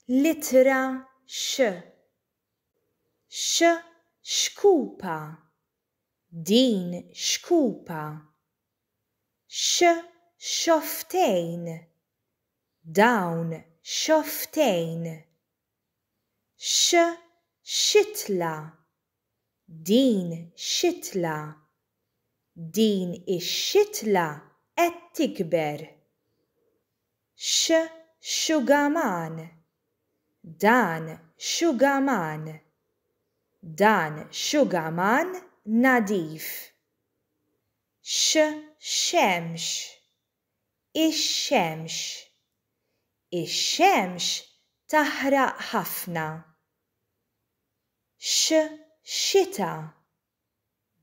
L-ittra x, x xkupa, din xkupa. X xofftejn, dawn xofftejn. X xitla, Din xitla! Din ix-xitla qed tikber! X' xugaman! Dan xugaman! Dan xugaman nadif! X' xemx! Ix-xemx! Ix-xemx taħraq ħafna! X' xita!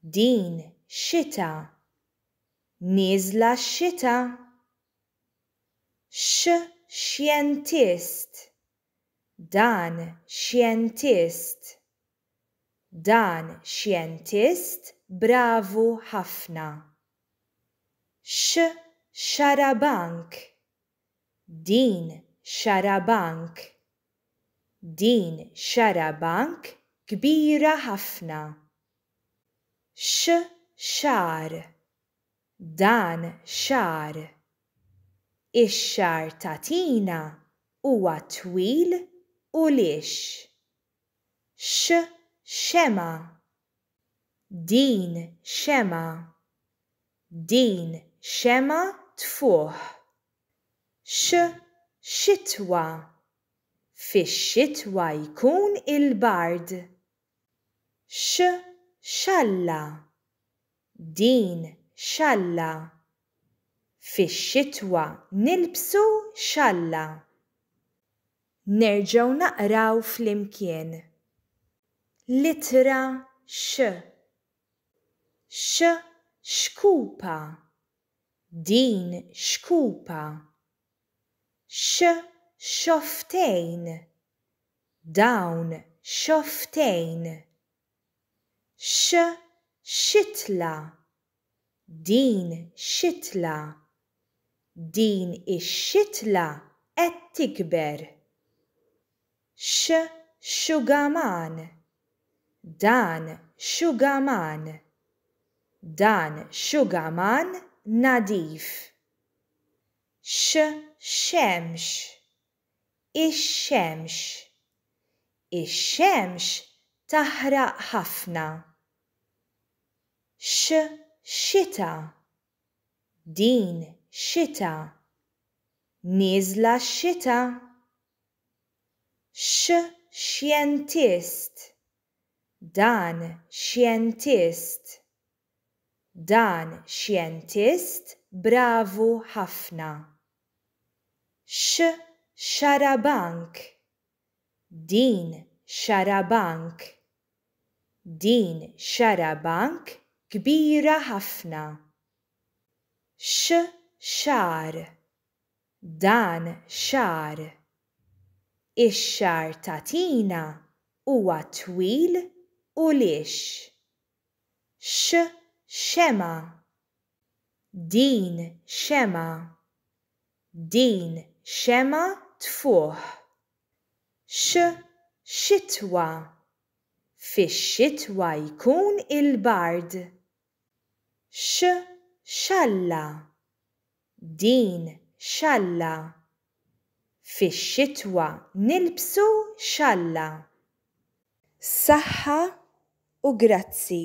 Din xita! Nieżla x-xita! X' xjentist! Dan xjentist! Dan xjentist bravu ħafna! X' xarabank! Din xarabank. Din xarabank kbira ħafna. X xagħar. Dan xagħar. Ix-xagħar ta' Tina huwa twil u lixx. X xemgħa. Din xemgħa. Din xemgħa tfuħ. X, Xitwa. Fix-xitwa jkun il-bard. X, Xalla. Din xalla. Fix-xitwa nilbsu xalla. Nerġgħu naqraw flimkien. L-ittra x. X xkupa. Din xkupa. X xofftejn. Dawn xofftejn. X xitla. Din xitla! Din ix-xitla qed tikber! X, xugaman! Dan xugaman! Dan xugaman nadif! X, xemx! Ix-xemx. Ix-xemx taħraq ħafna. X, xita. Din xita. Nieżla x-xita. X, xjentist. Dan xjentist. Dan xjentist bravu ħafna. X' xarabank! Din xarabank! Din xarabank kbira ħafna. X' xagħar! Dan xagħar! Ix-xagħar ta' Tina huwa twil u lixx. X xemgħa! Din xemgħa! Din xemgħa tfuħ! X xitwa! Fix-xitwa jkun il-bard! X xalla! Din xalla. Fix-xitwa nilbsu xalla. Saħħa u grazzi.